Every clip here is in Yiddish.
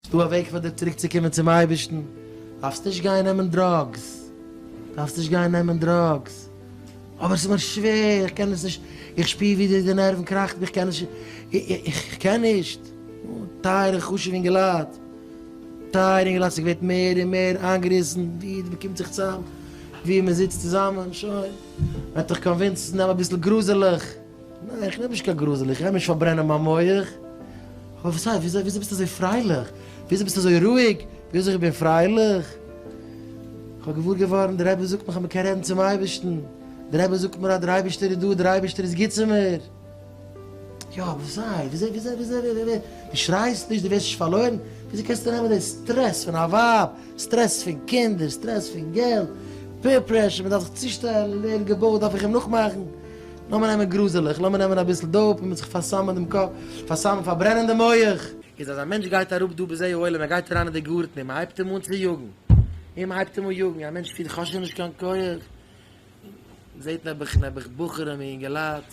ס'דא א וועג פאר דיר צוריקצוקומען צום אייבערשטן, דארפסט נישט גיין נעמען דראגס, דארפסט נישט גיין נעמען דראגס, אבער ס'איז מיר שווער, איך קען עס נישט, איך שפיר ווי די נערוון קראכט מיר, איך קען נישט, איך קען נישט, טייערע חשובע אינגעלייט, טייערע אינגעלייט ס'איז געווערט מער און מער איינגעריסן, ווי מען קומט זיך צוזאם, ווי מען זיצט צוזאמען, שוין, וועט דאך קאנווינסן נעם אביסל גראזעלעך. ניין איך נעם נישט קיין גראזעל, איך גיי נישט פארברענען מיין מח, אבער וואס הייסט, וויאזוי וויאזוי ביסטו אזוי פרייליך, וויאזוי ביסטו אזוי רואיג, וויאזוי איך בין פרייליך, איך האב געוואר געווארן דער רבי זאגט מיך אז מען קען רעדן צום אייבערשטן, דער רבי זאגט מיר אז דער אייבערשטער איז דא, דער אייבערשטער איז גוט צו מיר, יא אבער וואס הייסט, וויאזוי וויאזוי וויאזוי, דו שרייסט נישט, דו ווערסט נישט פארלוירן, וויאזוי קענסטו נעמען די סטרעס פון א ווייב, סטרעס פון קינדער, סטרעס פון געלט, פעיר פרעשור, מען דארף זיך צושטעלן, ווערן געבויט, דארף איך אים נאכמאכן, לאמיר נעמען גראזעלעך, לאמיר נעמען אביסל דאופ און מיט זיך פארסמ'ן דעם קאפ, פארסמ'ן, פארברענען דעם מח. איז אז א מענטש גייט אראפ דא בזה העולם, ער גייט אריין אין די גארטן און מען הייבט אים אן צו יאגן, און מען הייבט אים אן יאגן, א מענטש פילט כ'האב שוין נישט קיין כח, און זעט נעבעך, נעבעך בחורים און אינגעלייט,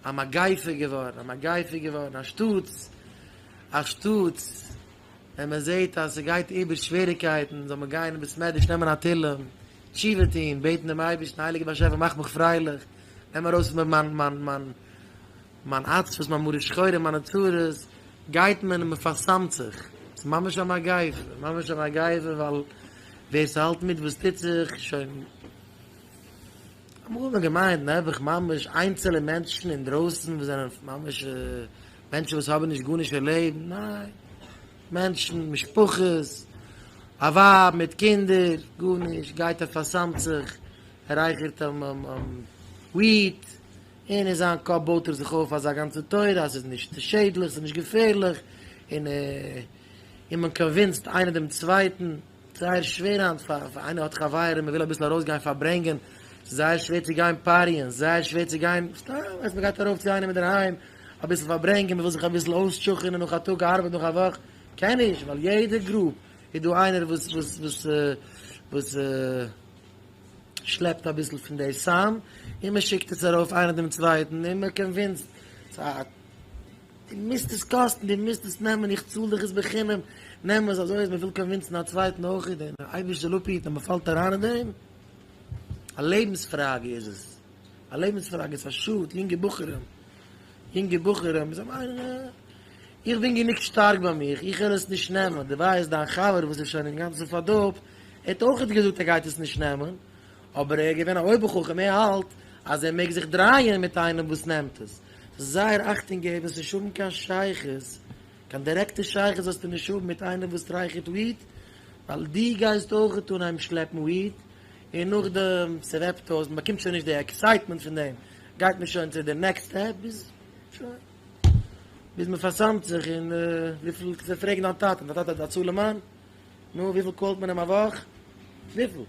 א מגיפה געווארן, א מגיפה געווארן, אנשטאטס, אנשטאטס. ווען מען זעט אז ס'גייט איבער שוועריקייטן זאל מען גיין אין בית מדרש נעמען א תהלים, תשובה טון, בעטן דעם אייבערשטן, הייליגער באשעפער מאך מיך פרייליך, נעם ארויס פון מיר מיין מיין מיין מיין עצבות, מיין מרה שחורה, מיינע צרות, גייט מען און מען פארסאמט זיך, ס'איז ממש א מגיפה, ממש א מגיפה, ווייל ווער ס'האלט מיט וואס טוט זיך, שוין, אמאל האט מען געמיינט נעבעך ממש איינצעלע מענטשן אינדרויסן וואס זענען ממש מענטשן וואס האבן נישט גארנישט אין לעבן, ניין, מענטשן, משפחות, א ווייב מיט קינדער, גארנישט, גייט ער פאר'סמ'ט זיך, ער רייכערט וויעד, און אין זיין קאפ בויט ער זיך אויף אזא גאנצע תורה אז ס'איז נישט שעדליך, ס'איז נישט געפערליך, און מען קאנווינסד איינער דעם צווייטן. זייער שווער היינט פאר איינער האט חברים און וויל אביסל ארויסגיין פארברענגען, ס'איז זייער שווער צו גיין פאריען, זייער שווער צו גיין סתם, ווייסט מען גייט ארויף צו איינעם אינדערהיים אביסל פארברענגען, מ'וויל זיך אביסל אויסטשוכענען נאך א טאג ארבעט נאך א וואך, קען נישט, ווייל יעדע גרופ איז דא איינער וואס וואס וואס וואס שלעפט אביסל פון די סם, און מ'שיקט עס ארויף איינער דעם צווייטן און מ'קאנווינסד די מיזט עס קאסטן, די מיזט עס נעמען, איך צאל דיך עס בחינם, נעם עס, אזוי אז מען וויל קאנווינסן א צווייטן אויך און דער אייבערשטער לפיד אז מען פאלט אריין אין דעם, א לעבנס פראגע איז עס, א לעבנס פראגע, עס איז א שאד יונגע בחורים, יונגע בחורים, זיי מיינען איך בין גענוג שטארק ביי מיך, איך וועל עס נישט נעמען, דערווייל איז דיין חבר וואס איז שוין אינגאנצן פארדארבט, ער האט אויך געזאגט ער גייט עס נישט נעמען, אבער ער איז געווען א אויבערחכם, ער האלט אז ער מעג זיך דרייען מיט איינעם וואס נעמט עס. ס'איז זייער אכטונג געבן, ס'נישט האבן קיין שייכות, קיין דירעקטע שייכות זאלסטו נישט האבן מיט איינער וואס טרייכערט וויט, ווייל דו גייסט אויכעט אן אהיים שלעפן וויט, און נאכדעם ס'וועפט אויס, מ'באקומט שוין נישט די עקסייטמענט פון דעם, גייט מען שוין צו די נעקסט סטעפ, ביז שוין, ביז מ'פארסאמט זיך, און וויפיל, זיי פרעגן דיין טאטע, דיין טאטע האט א צאל אין מאן? נו, וויפיל קאלט מען אים א וואך? וויפיל?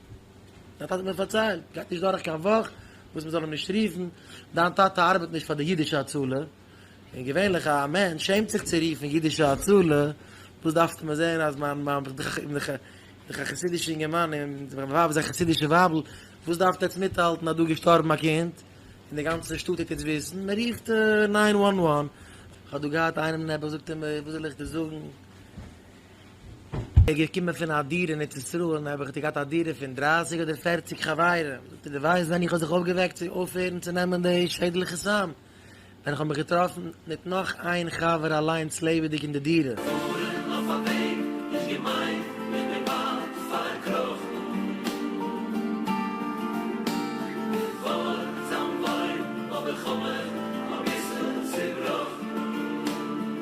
דיין טאטע האט מיר פארציילט, גייט נישט דורך קיין וואך וואס מען זאל אים נישט רופן, דיין טאטע ארבעט נישט פאר די אידישע הצלה, און געווענליך א מענטש שעמט זיך צו רופן אידישע הצלה, דאס דארפסטו מיר זען אז מיין מיין איך דאך איך דאך איך דאך א חסידישע אינגערמאן און מיין ווייב איז א חסידישע ווייבל, וואס דארפט עטס מיטהאלטן אז דא איז געשטארבן א קינד, און די גאנצע שטאט טוט יעצט וויסן, מען רופט ניין וואן וואן, איך האב דא געהאט איינעם נעבעך זאגט ער מיר וואס זאל איך דיר זאגן, איך בין געקומען פון א דירה אין ארץ ישראל און האב איך געהאט א דירה פון דרייסיג אדער פערציג חברים, דו ווייסט ווען איך האב זיך אויפגעוועקט צו אויפהערן צו נעמען די שעדליכע סם? ווען איך האב מיך געטראפן מיט נאך איין חבר אליינס לעבעדיג אין די דירה. פארן אויף א וועג נישט געמיינט איך בין באלד פארקראכן געווארן זיין וואוין אבער כ'האב מיך אביסל צובראכן.